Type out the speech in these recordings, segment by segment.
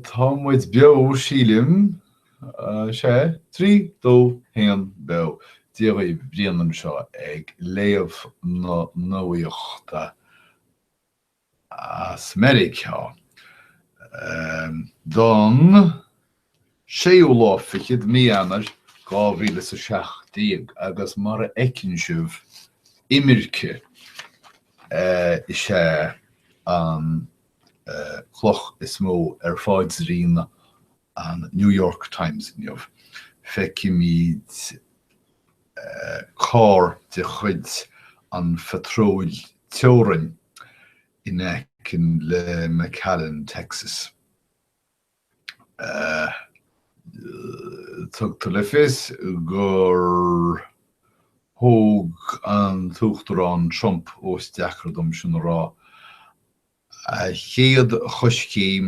Tá muid beo, sílim. Sea, trí, dó, haon, beo. Dia dhaoibh, Brian anseo ag léamh na nuachta as Meiriceá don. 6ú lá fichead Mí Eanair 2017 agus mar a fheiceann sibh imirce is ea an cloch is mó ar pháidrín an New York Times inniu. Feicimid carr de chuid an Phatróil Teorainn in aice le McAllen, Texas. Tugtar le fios gur thóg an tUachtarán Trump, ós deacair dom sin a rá, a chéad choiscéim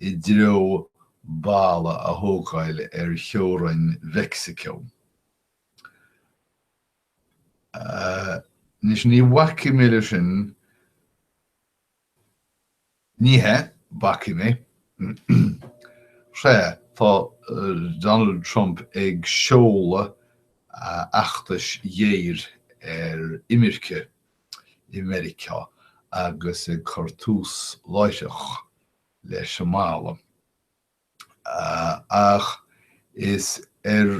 i dtreo balla a thógáil ar theorainn Mheicsiceo. Anois, ní bhacfaidh mé leis sin. Ní hea, bacfaidh mé. Sea, tá Donald Trump ag seoladh feachtais ghéir ar imirce i Meiriceá agus ag cur tús láithreach leis an mballa. Ach is ar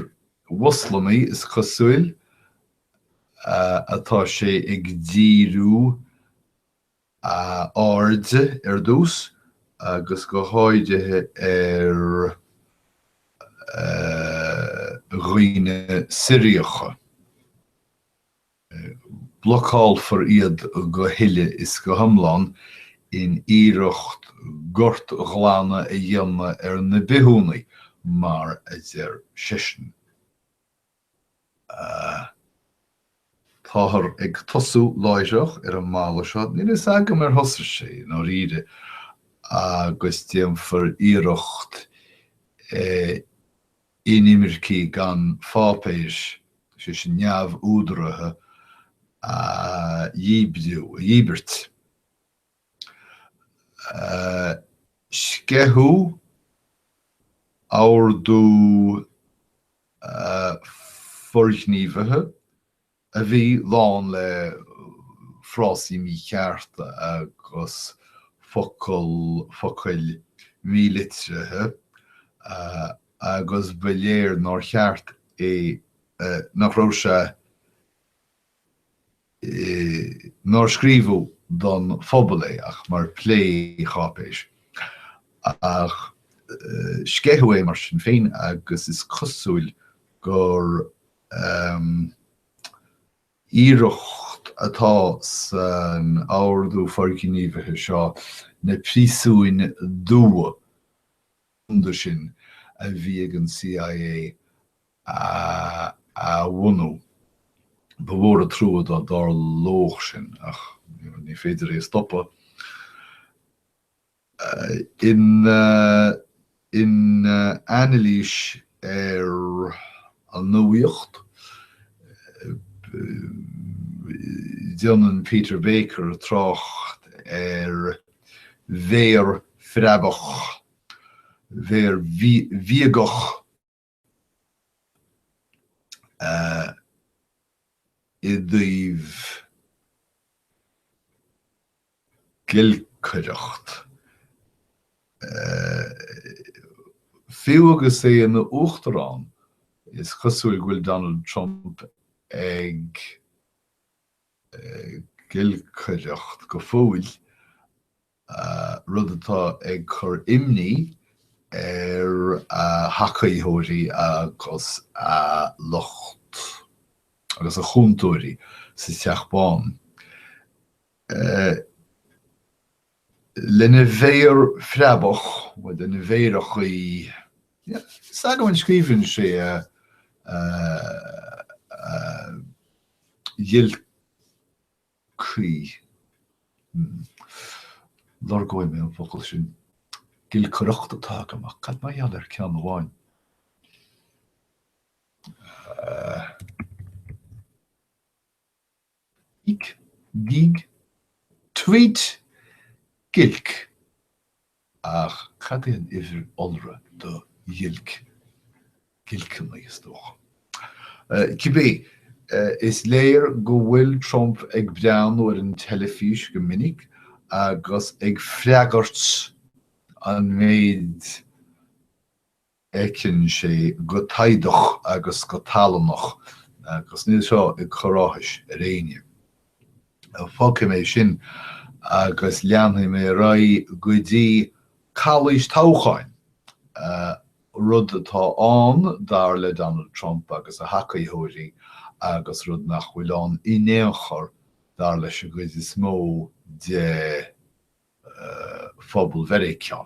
Mhoslamaigh is cosúil atá sé ag díriú a airde ar dtús agus go háirithe ar dhaoine Siriacha. Blocálfar iad go huile is go hiomlán in iarracht gortghlanadh a dhéanamh ar na bithiúnaigh, mar a deir seisean. Táthar ag tosú láithreach ar an mballa seo, níl a fhios agam ar thosaigh sé i ndáiríre, agus déanfar iarracht inimircigh gan pháipéir, sé sin neamhúdaraithe, a dhíbriú, a dhíbirt. sceitheadh ordú forghníomhaithe a bhí lán le frásaí míchearta agus focal, focail mhílitrithe agus ba léir nár cheart é, nach raibh sé. nár scríobhadh don phobal é ach mar phlé-cháipéis. Ach sceitheadh é mar sin féin agus is cosúil gur iarracht atá san Ordú Forghníomhaithe seo na príosúin dubha rúnda sin a bhí ag an CIA a bhunú. Ba mhór an trua dá dtarlódh sin ach ní féidir é a stopadh. In anailís ar an nuaíocht, déanann Peter Baker trácht ar mhéar phreabach, mhéar bhíogach, i dtaobh giolcaireacht. Fiú agus é ina Uachtarán, is cosúil go bhfuil Donald Trump ag giolcaireacht go fóill. rud atá ag cur imní ar a thacaítheoirí agus a lucht agus a chúntóirí sa Teach Bán. Lena mhéar phreabach, nó lena mhéar achaí, is ea go scríobhann sé a cuí. Lorgóidh mé an focal sin. Giolcaireacht atá agam ach cad é mar gheall ar ceann amháin? Gíog! Tweet! Giolc! Ach cad é an uimhir iolra do ghiolc? Giolcanna, is dócha. Cibé, is léir go bhfuil Trump ag breathnú ar an teilifís go minic agus ag freagairt an méid fheiceann sé go taghdach agus go tallannach agus níl seo ag cur áthais ar éinne. Fágfaidh mé sin agus leanfaidh mé ar aghaidh go dtí calaois toghcháin, rud atá ann dar le Donald Trump agus a thacaitheoirí agus rud nach bhfuil ann in aon chor dar leis an gcuid is mó de phobal Mheiriceá.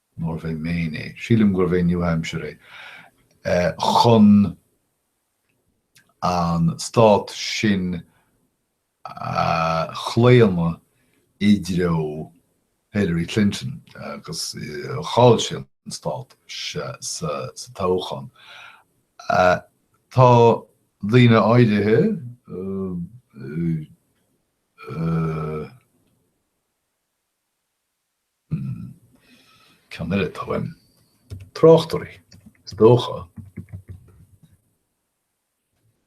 Nárbh é Maine é? Sílim gurbh é New Hampshire é. Chun an stát sin a chlaonadh i dtreo Hillary Clinton agus chaill sé an stát sa toghchán. Tá daoine áirithe Cineál, táim, tráchtairí, is dócha.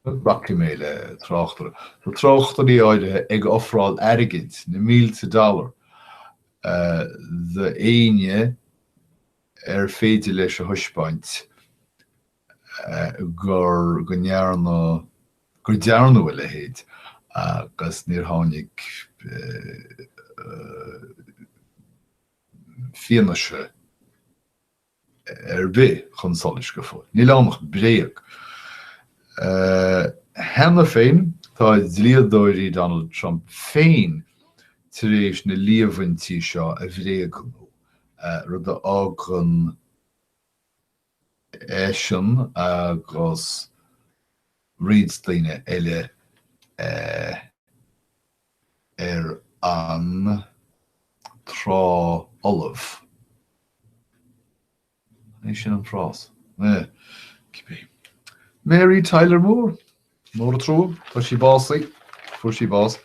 Glacfaidh mé le tráchtaire. Tá tráchtairí áirithe ag ofráil airgid, na mílte dollar, d'éinne ar féidir leis a thaispeáint gur, go ndearna, gur dearnadh a leithéid agus níor tháinig fianaise ar bith chun solais go fóill. Níl ann ach bréag. Cheana féin tá dlíodóirí Donald Trump féin tar éis na líomhaintí seo a bhréagnú, rud a fhágann, eisean agus roinnt daoine eile ar an trá folamh. An é sin an frás? Cibé. Mary Tyler Moore. Mór an trua, tá sí básaithe, fuair sí bás.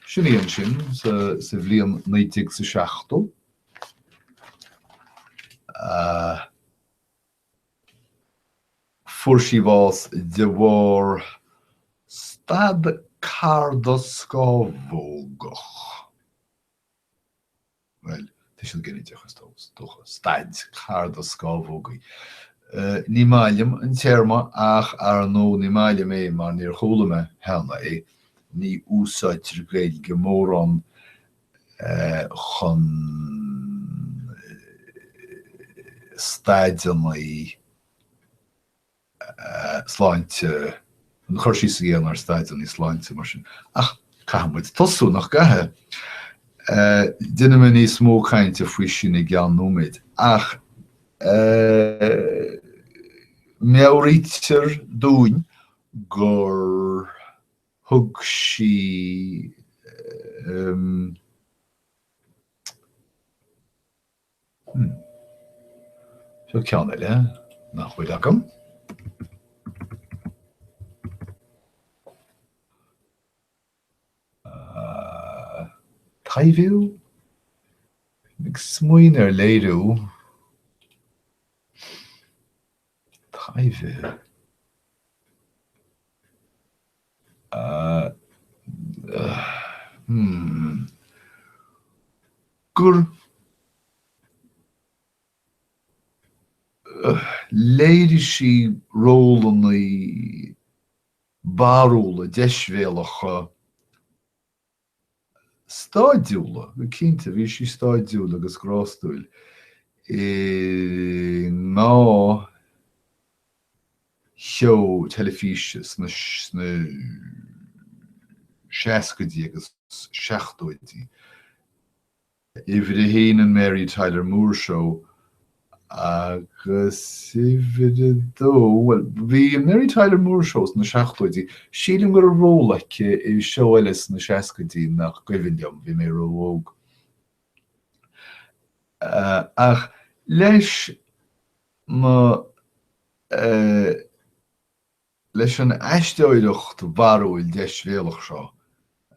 Sin í ansin sa bhliain 1970. Fuair sí bás de bharr stad carda-scámhógach. Bhuel, tuiseal ginideach is dócha, staid carda-scámhógaí. Ní maith liom an téarma ach ar ndóigh ní maith liom é mar níor chuala mé cheana é, ní úsáidtear Gaeilge mórán chun staideanna sláinte, chun cur síos a dhéanamh ar staideanna sláinte mar sin. Ach caithfidh muid tosú, nach gcaithfidh? Déanfaidh mé níos mó cainte faoi sin i gceann nóiméid ach meabhraítear dúinn gur Thug sí, um. Seo ceann eile nach bhfuil agam. Taibhiú? Ag smaoineamh ar léiriú. taibhiú. Gur léirigh sí rólanna barrúla deisbhéalacha stáidiúla, go cinnte, bhí sí stáidiúil agus grástúil i ndá sheó teilifíse sna seascaidí agus seachtóidí. Uimhir a haon an Mary Tyler Moore Show agus uimhir a dó, bhuel, bhí an Mary Tyler Moore Show sna seachtóidí, sílim go raibh ról aici i seó eile sna seascaidí nach cuimhin liom, bhí mé ró-óg. Ach leis mo. Leis an aisteoireacht bharrúil deisbhéalach seo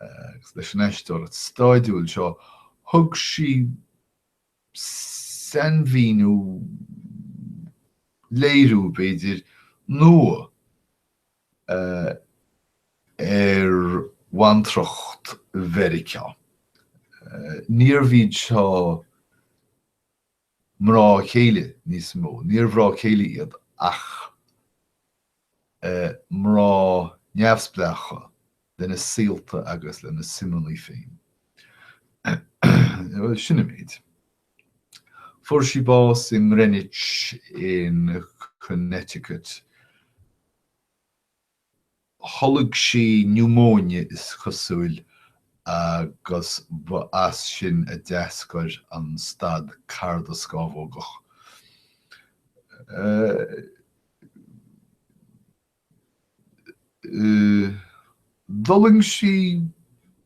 agus leis an aisteoireacht stáidiúil seo thug sí sainmhíniú, léiriú, b'fhéidir, nua ar bhantracht Mheiriceá. Níorbh iad seo mrá céile níos mó. Níor mhrá céile iad ach mrá neamhspleácha lena saolta agus lena suimeanna féin. Sin an méid. Fuair sí bás i nGreenwich in Connecticut. Tholg sí niúmóine is cosúil agus ba as sin a d'eascair an stad cardascamhógach. D'fhulaing sí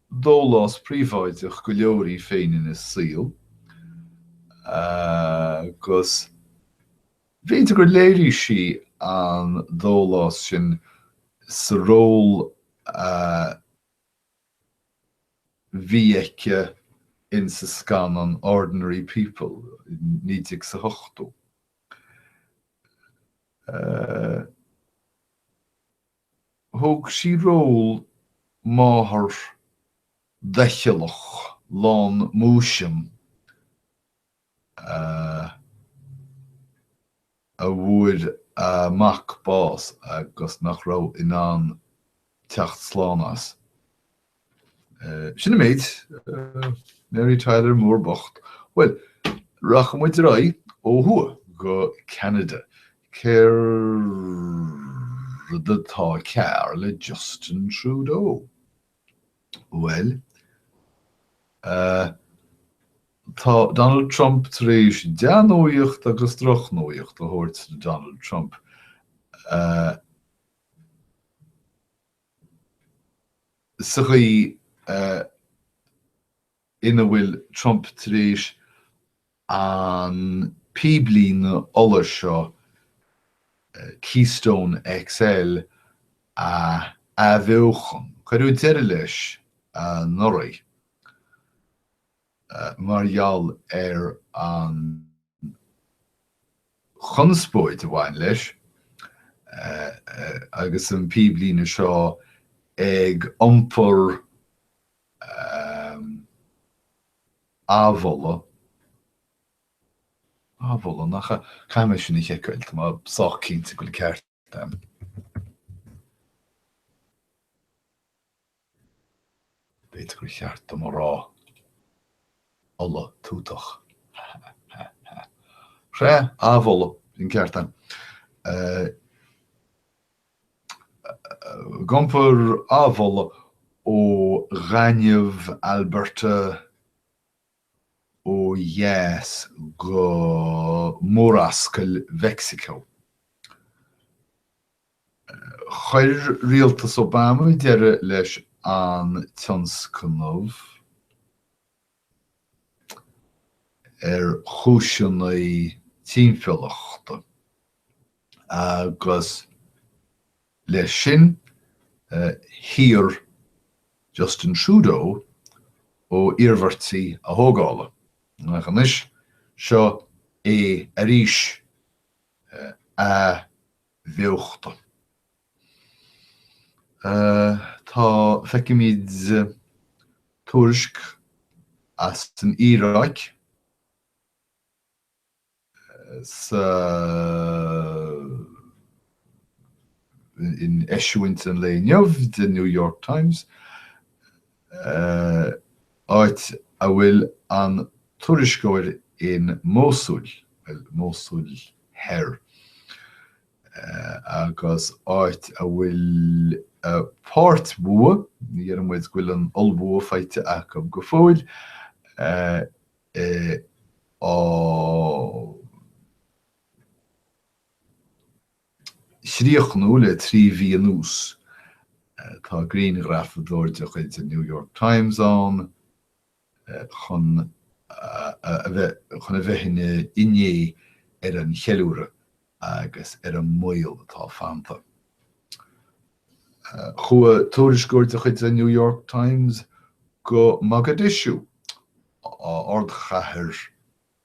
dólás príobháideach go leor í féin ina saol agus B'fhéidir gur léirigh sí an dólás sin sa ról a bhí aici in sa scannán Ordinary People i naoi déag 's a hochtó. Thóg sí ról máthar doicheallach lán múisiam a bhfuair a mac bás agus nach raibh in ann teacht slán as. Sin an méid. Mary Tyler Moore bocht. Bhuel, rachaidh muid ar aghaidh ó thuaidh go Ceanada. Céard atá cearr le Justin Trudeau? Bhuel, tá Donald Trump tar éis dea-nuaíocht agus droch-nuaíocht a thabhairt do Donald Trump. Sa gcaoi ina bhfuil Trump tar éis an píblíne ola seo, Keystone XL, a athbheochan. Cuireadh deireadh leis anuraidh mar gheall ar an chonspóid a bhain leis agus an píblíne seo ag iompar ehm. amhola. Amhola, nach ea? Caithfidh mé sin a sheiceáil, tá mé sách cinnte go bhfuil ceart a'm. B'fhéidir gur cheart dom a rá ola tútach. Sea, amhola, an ceart a'm. Eh. Ag iompar amhola ó ghaineamh Alberta ó dheas go Murascaill Mheicsiceo. Chuir rialtas Obama deireadh leis an tionscnamh. ar chúiseanna timpeallachta agus le sin shaor Justin Trudeau ó iarmhairtí a thógála. Ach anois, seo é arís. A. bheochta. Tá, feicimid tuairisc as an Iaráic in eisiúint an lae inniu den New York Times, áit a bhfuil an tuairisceoir in Mósúil, bhuel, Mósúil Thoir, agus áit a bhfuil páirtbhua, ní dhéarfaidh muid go bhfuil an t-ollbhua faighte acu go fóill, á chríochnú le trí mhí anuas. Tá grianghrafadóir de chuid an New York Times ann chun, chun a bheith ina fhinné ar an cheiliúradh agus ar an mbaol atá fanta. Chuaigh tuairisceoir de chuid an New York Times go Mogadishu, ardchathair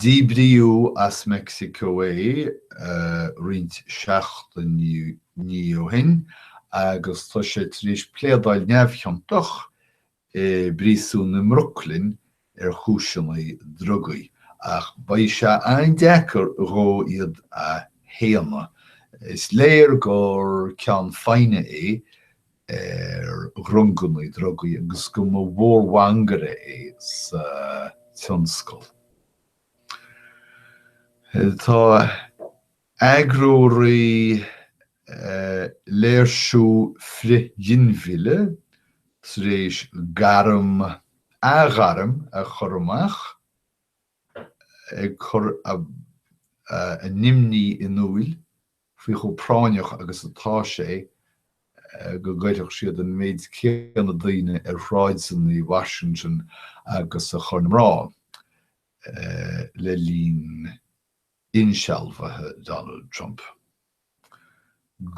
Díbríodh as Meicsiceo é roinnt seachtainí ó shin agus tá sé tar éis pléadáil neamhchiontach i bpríosún i mBrooklyn ar chúiseanna drugaí, ach beidh sé an-deacair dhó iad a shéanadh. Is léir gur ceann feadhna é ar dhrongannaí drugaí, agus go mba mhór mhangaire é sa tionscal. Tá eagróraí léirsiú frith-ghinmhillte tar éis gairm, athghairm a chur amach ag cur a n-imní in iúil. faoi chomh práinneach agus atá sé go gcuirfeadh siad an méid céanna daoine ar shráideanna Washington agus a chuir na mná le linn insealbhaithe Donald Trump.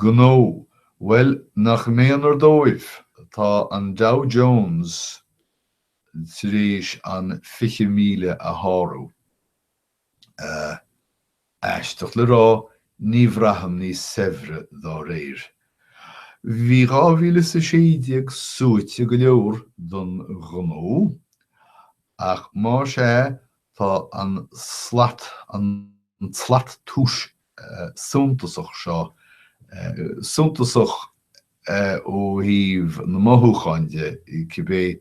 Gnó, bhuel, nach méanar dóibh, tá an Dow Jones tar éis an 20,000 a shárú. Sea, aisteach le rá, ní bhraithim níos saibhre dá réir. Bhí dhá mhíle is a sé déag suaite go leor don ghnó, ach más ea, tá an tslat, an tslat túis suntasach seo, suntasach ó thaobh na mothúchán de, cibé.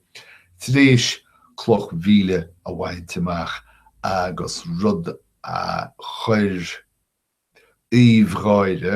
Tar éis cloch mhíle a bhaint amach agus rud a chuir aoibh an gháire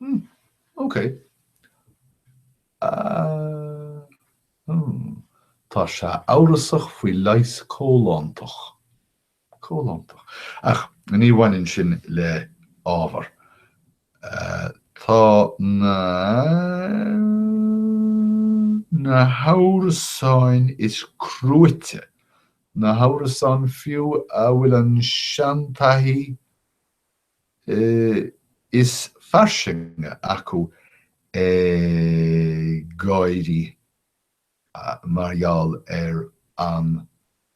Hmm. Ok. Uh, hmm. Tá sé amhrasach faoi leigheas comhlántach. Comhlántach. Ach ní bhaineann sin le ábhar. Uh, tá na na hamhrasáin is cruaite, na hamhrasáin fiú a bhfuil an seantaithí is fairsinge acu ag gáire mar gheall ar an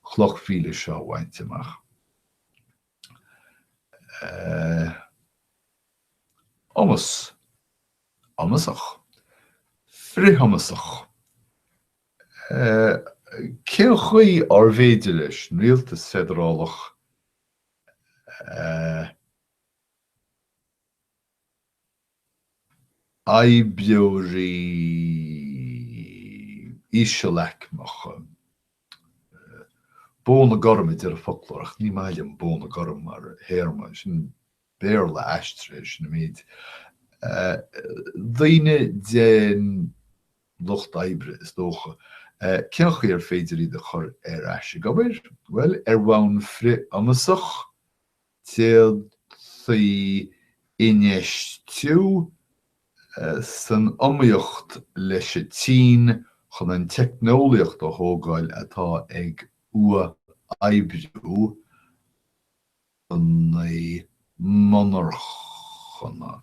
chloch mhíle seo a bhaint amach. iomas, iomasach, frithiomasach, Cén chaoi arbh fhéidir leis an rialtas feidearálach oibreoirí íseal-aicmeacha. Bóna gorm a deir an foclóir ach ní maith liom bóna gorm mar théarma, sin Béarla aistrithe, sin an méid. Eh., daoine den lucht oibre is dócha. Cén chaoi ar féidir iad a chur ar ais ag obair? Bhuel, ar bhonn frith-iomasach, d'fhéadfaí infheistiú san iomaíocht leis an tSín chun an teicneolaíocht a thógáil atá ag uathoibriú na monarchana.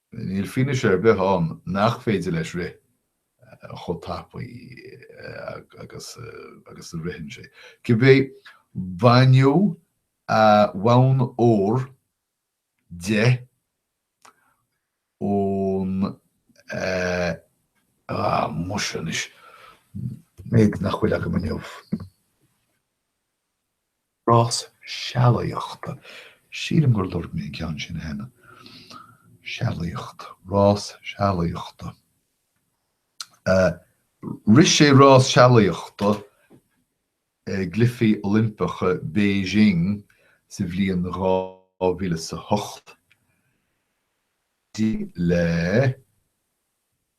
Níl fianaise ar bith ann nach féidir leis rith chomh tapaidh agus agus a ritheann sé. Cibé, baineadh a bhonn ór de ón, eh, anois an méid nach bhfuil agam inniu. Rás sealaíochta. Sílim gur lorg mé an ceann sin cheana. Sealaíocht. Rás sealaíochta. Rith sé rás sealaíochta i gCluichí Oilimpeacha Beijing sa bhliain 2008. D'éirigh le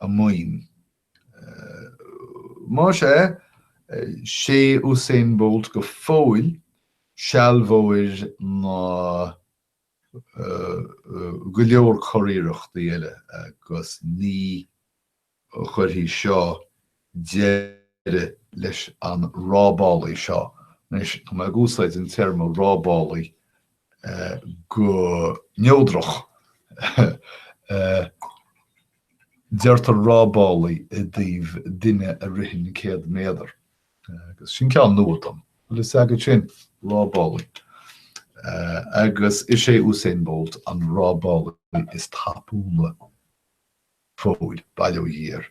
a mhaoin. Más é, 'sé Usain Bolt go fóill sealbhóir go leor curiarrachtaí eile agus ní chuirfidh seo deireadh leis an rábálaí seo. Anois, tá mé ag úsáid an téarma rábálaí go neodrach. Deirtear rábálaí i dtaobh duine a ritheann céad méadar. Agus sin ceann nua dom. Bhfuil fhios agat sin? Rábálaí. Agus is é Usain Bolt an rábálaí is tapúla. go fóill, bail ó Dhia air.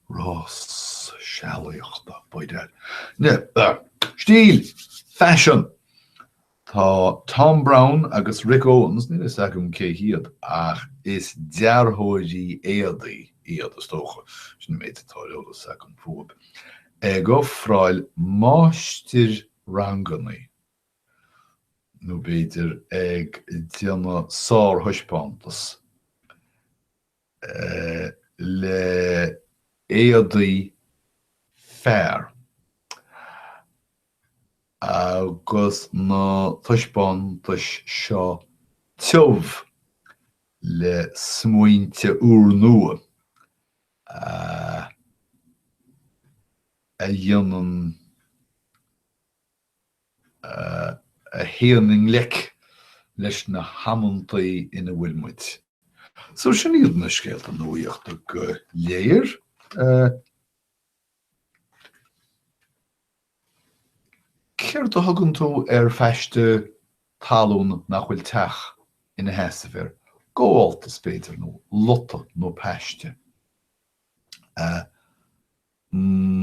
Rás sealaíochta, b'fhéidir. Stíl, Faisean, Tá Thom Browne agus Rick Owens, níl fhios agam cé hiad ach is dearthóirí éadaí iad is dócha, sin an méid atá fhios agam fúthu, Ag ofráil máistir-ranganna, nó b'fhéidir ag déanamh sár-thaispeántas le éadaí fear agus na taispeántais seo tiubh le smaointe úrnua a dhéanann a théann i ngleic leis na hamantaí ina bhfuil muid. So sin iad na scéalta nuaíochta go léir. Céard a thugann tú ar phaiste talún nach bhfuil teach ina sheasamh air? Gabháltas, b'fhéidir, nó lota nó paiste.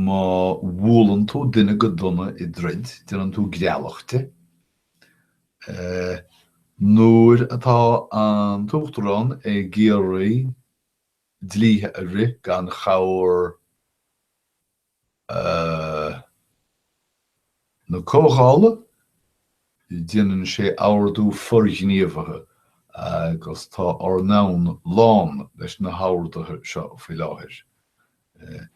Má bhualann tú duine go dona i dtroid, déanann tú greallach de. Nuair atá an t-uachtarán ag iarraidh dlíthe a rith gan chabhair na Comhdhála. Déanann sé ordú forghníomhaithe agus tá ár ndomhan lán leis na horduithe seo faoi láthair.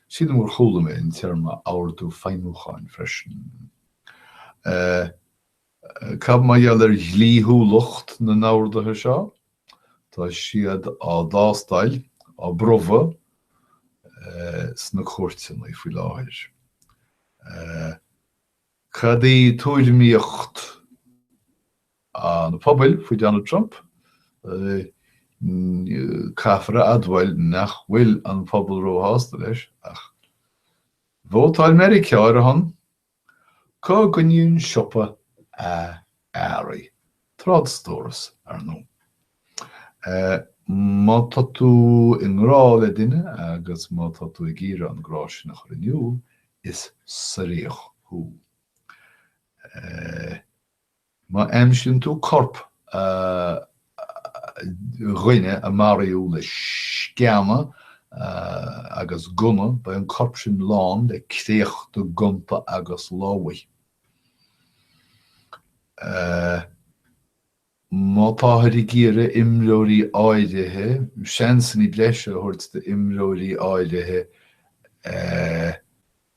Sílim gur chuala mé an téarma ordú feidhmiúcháin freisin. Cad mar gheall ar dhlíthiúlacht na n-orduithe seo? Tá siad á dtástáil, á bpromhadh, sna cúirteanna faoi láthair. Cad í tuairimíocht an phobail faoi Donald Trump? Caithfear a admháil nach bhfuil an pobal ró-shásta leis, ach vótáil Meiriceá ar a shon. Go gcoinníonn siopa a earraí, trádstóras, ar ndóigh. Má tá tú i ngrá le duine agus má tá tú ag iarraidh an grá sin a chur in iúl, is suiríoch thú. Má aimsíonn tú corp dhuine a maraíodh le sceana agus gunna, beidh an corp sin lán le créachta gonta agus lámhaigh. Má táthar ag iarraidh imreoirí áirithe, seansanna breise a thabhairt d'imreoirí áirithe,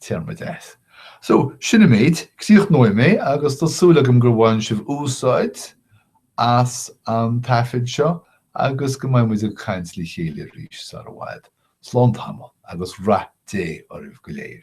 Téarma deas. So, sin an méid. Críochnóidh mé agus tá súil agam gur bhain sibh úsáid as an taifead seo agus go mbeidh muid ag caint le chéile arís sar i bhfad. Slán tamall agus rath Dé oraibh go léir.